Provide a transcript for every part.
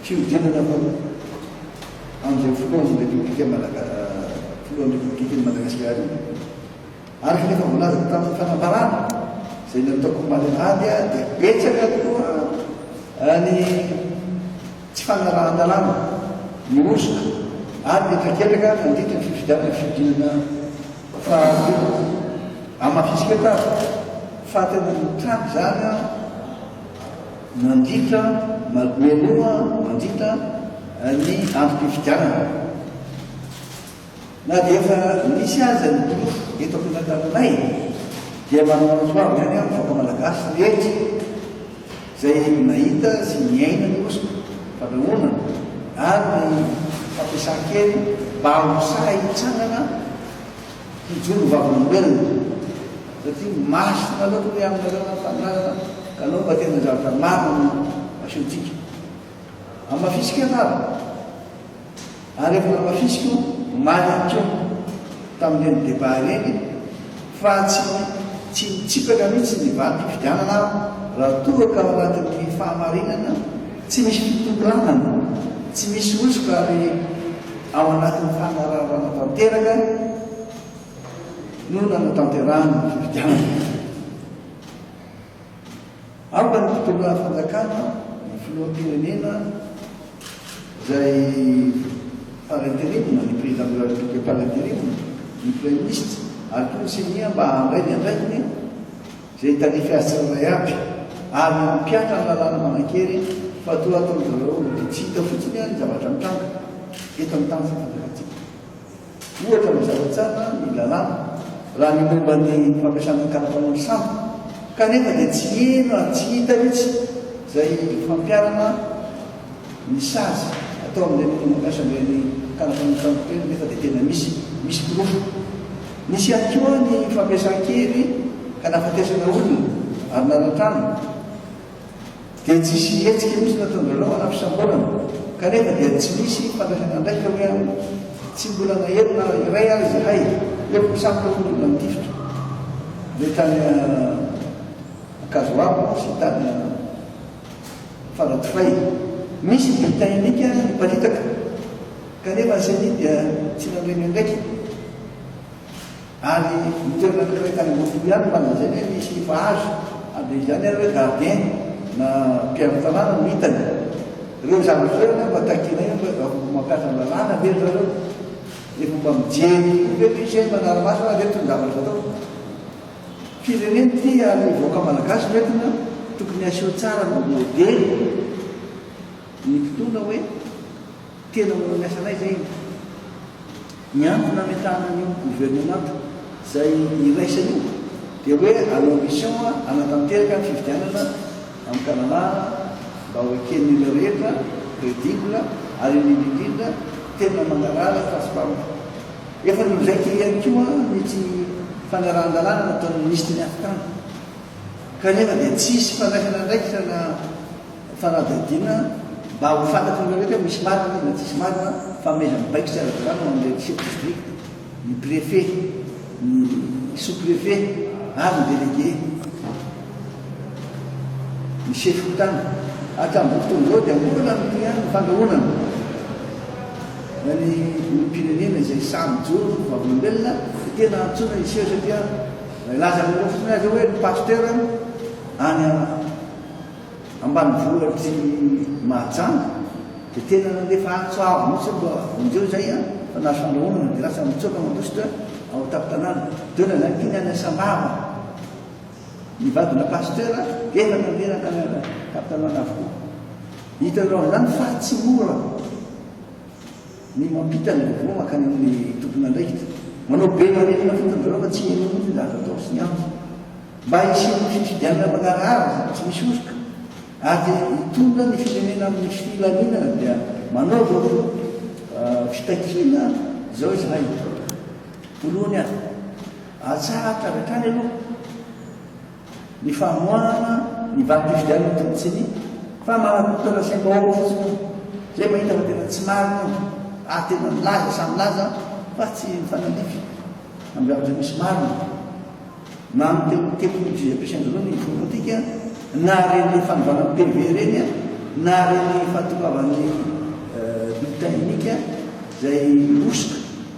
Fihodinana avao amin'izay filohan'ny Repoblika Malaga-, filohan'ny Repoblikan'i Madagasikara io. Araka ny efa voalazako tamin'ny fanambarana izay nataoko omaly alahady dia betsaka tokoa ny tsy fanarahan-dalàna, ny hosoka ary ny traketraka nandritra ny fifidianana ny fihodinana fahatelo. Hamafisiko eto ary fa tena mitranga izany an! Mandritra manomenoa mandritra ny androm-pifidianana. Na dia efa nisy aza ny porofo eto am-piandrasana taminay dia manana ny soaviny ihany ny vahoaka malagasy rehetra izay nahita sy niaina ny hosoka, fandrahonana ary ny fampiasan-kery mba ho sahy hitsangana. Hijoro vavolombelona, satria masina loatra ny aminareo ny Fahamarinana, ka aleo mba tena zavatra marina no asehontsika. Hamafisiko ianareo, ary efa namafisiko omaly ihany koa, tamin'ireny débat ireny, fa tsy tsy mitsipaka mihitsy ny valim-pifidianana aho, raha toa ka ao anatin'ny Fahamarinana tsy misy fitokanana, tsy misy hosoka ary, Ao anatin'ny fanararaoana tanteraka no nanatanterahana ny fifidianana. Aoka ny mpitondra fanjakana, ny filoham-pirenena izay par interim, ny président de la République par interim, ny praiminisitra ary koa ny ceni mba handray ny andraikiny, Izay tarife azy tsirairay aby ary mampiatra ny lalàna manan-kery fa toa ataon-dry zareo dia tsy hita fotsiny ny zavatra mitranga eto amin'ny tany fampandrosoantsika. Ohatra mazava tsara ny lalàna raha ny momba ny fampiasana ny karapanao ny sambo kanefa dia tsy heno ary tsy hita mihitsy izay fampiarana ny sazy atao amin'ireny olona mampiasa an'ireny karapanao sambo ireny nefa dia tena misy, misy porofo. Nisy ihany koa ny fampiasan-kery ka nahafatesana olona ary nanan-trano dia tsy hisy hetsika mihitsy nataon-dry zareo hanampisamborana kanefa dia tsy nisy fandraisana andraikitra hoe any tsy mbola nahery na iray ary izahay hoe mpisambotra hono olona nitifitra be tany Ankazoabo sy tany Faradofay, misy bulletin unique aza niparitaka kanefa ny ceni dia tsy nanohy ny andraikiny ary ny toerana anankiray tany Ambohipo ihany no nalazainy hoe misy efa azo ary dia izany ary hoe gardien na mpiaro tanàna no hitany ireo zandry ireo anefa mba takianay hoe mba mampiasa ny lalàna ve ry zareo? Efa mba mijery kokoa ve ve isay manara-maso na ve tony zavatra atao? Firenena ity ary ny vahoaka malagasy no entina, tokony aseho tsara mba modely ny mpitondra hoe tena manao ny asanay izay iny. Ny antony nametahana an'io gouvernement izay iraisana io dia hoe à l'ambition hanatanteraka ny fifidianana amim-panalana mba ho eken'ireo rehetra, credible ary indrindra indrindra tena mangarahara fa tsy mpampa. Efa nolaiko ihany koa ity fanarahan-dalàna nataon'ny minisitry ny Afontany, kanefa dia tsy hisy fandraisana andraikitra na fanadihadiana mba ho fantatr'ireo rehetra hoe misy marina izy na tsisy marina fanomezana baiko tsy ara-dalàna ho an'ireo chefs de district, ny préfet, ny sous-préfet ary ny délégué. Ny sefo-tany hatramin'izao fotoana izao dia mbola ny tohin'ny fandrahonana na ny olom-pirenena izay samy mijoro ho vavolombelona dia tena antsoina hiseho satria raha hilaza ny lohany fotsiny aza hoe ny pasteur any ambanivohitr'i Mahajanga dia tena nandefa antso avo mihitsy mba vonjeo izay fa nahazo fandrahonana dia lasa mitsoaka mandositra ao an-tampon-tanàna. Donne la ligne any Asambava. Ny vadina pasteur ela nandeha nanana Catalan avokoa. Hitanao izany fa tsy mora ny mampita ny vaovao mankany amin'ny tompon'andraikitra. Manao be marefona fotsiny zareo fa tsy heno mihitsy ny zavatra atao sy ny antony. Mba hisian'ny fifidianana mangarahara sady tsy misy hosoka ary hitondra ny firenena amin'ny filaminana dia manaova fitakiana izao izahay. Voalohany aho. Atsahatra avy hatrany aloha ny famoahana ny valim-pifidianana tany ceni fa manakotana sy mbahoaka fotsiny aho izay mahita fa tena tsy marina aho ary tena milaza samy milaza fa tsy mifanandrify amin'ireo zavatra misy marina mamotehoa teto ny juge Pechain Joro ny forontika na reny fanovana PV reny na reny fahatongavan'ny bulletin unique izay hosoka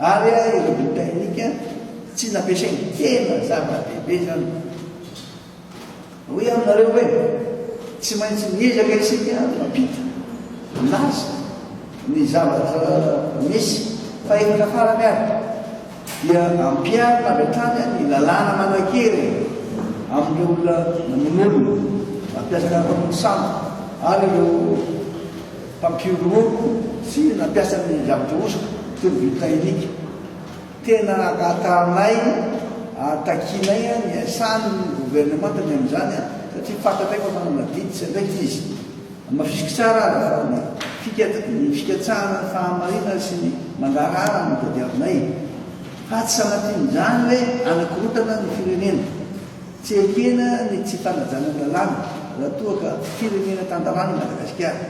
Ary ireo Britannica tsy nampiasainy tena zava-dehibe izany. Hoy aminareo hoe tsy maintsy miezaka isika mampita milaza ny zavatra misy fa efa tafarany ary dia ampiharina avy hatrany ny lalàna manan-kery amin'ireo olona namono olona, mampiasa karapanondro sampy ary ireo Mpampioro mômbo sy nampiasa ny zavatra hosoka toy ny vy plainic. Tena hangata anay ary takianay ny hiasany ny governemanta ny amin'izany an, satria fantatray fa manana didy sy andraikitra izy. Hamafisiko tsara aza fa ny fikat ny fikatsahana ny fahamarinana sy ny mandraràra no tadiavinay, fa tsy sanatrian'izany hoe hanakorontana ny firenena. Tsy ekena ny tsy fanajana ny lalàna raha toa ka firenena tan-dalàna i Madagasikara.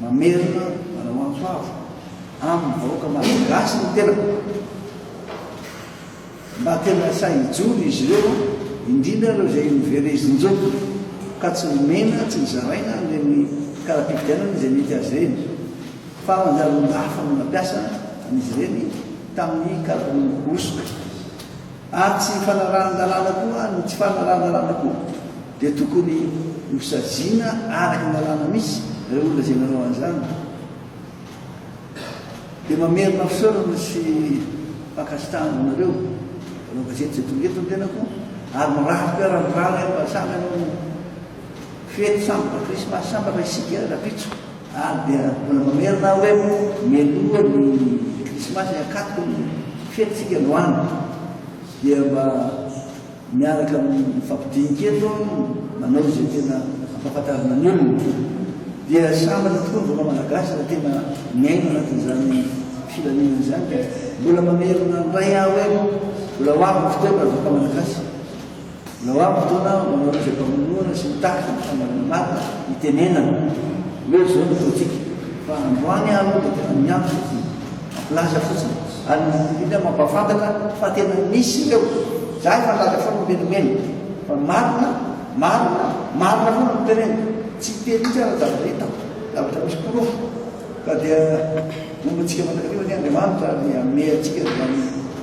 Mamerina manao antso avo amin'ny vahoaka malagasy ny tenako mba tena sahy hijoro izy ireo, indrindra ireo izay noverezin-joky ka tsy nomena, tsy nozaraina an'ireny kara-pifidianana izay mety azy ireny, fa manjary olon-dafa no nampiasa an'izy ireny tamin'ny karapanondro hosoka. Ary tsy fanarahan-dalàna koa, ny tsy fanarahan-dalàna koa dia tokony hosaziana araka ny lalàna misy, ireo olona izay nanao an'izany dia mamerina fisaorana sy fankasitrahana anareo mpanao gazety izay tonga eto ny tenako, ary mirary fiaran'ny rà anay mba samy hanao fety sambatra krismasy sambatra isika rahampitso. Ary dia mbola mamerina aho hoe mialoha ny krismasy hakato ny fetintsika androany dia mba miaraka mifampidinika eto aho no manao izay tena ampahafantarina ny olona. Dia sambatra tokoa ny vahoaka malagasy raha tena miaina anatin'izany filaminana izany ka mbola mamerina indray aho hoe mbola ho avy ny fotoana ry vahoaka malagasy. Noa fotoana ho anareo izay mpamonoana sy mitaky ny fanaovana marina hitenenana hoe izao ny politika fa androany aho aloha dia tena miantso ity ampilaza fotsiny ary ny olona mampahafantatra fa tena misy ireo za efa nilaza foana miverimberina fa marina marina marina foana no teneniko tsy teny mihitsy aho raha zavatra hitako zavatra misy porofo ka dia momba antsika mandrakariva anie Andriamanitra ary hanome antsika izany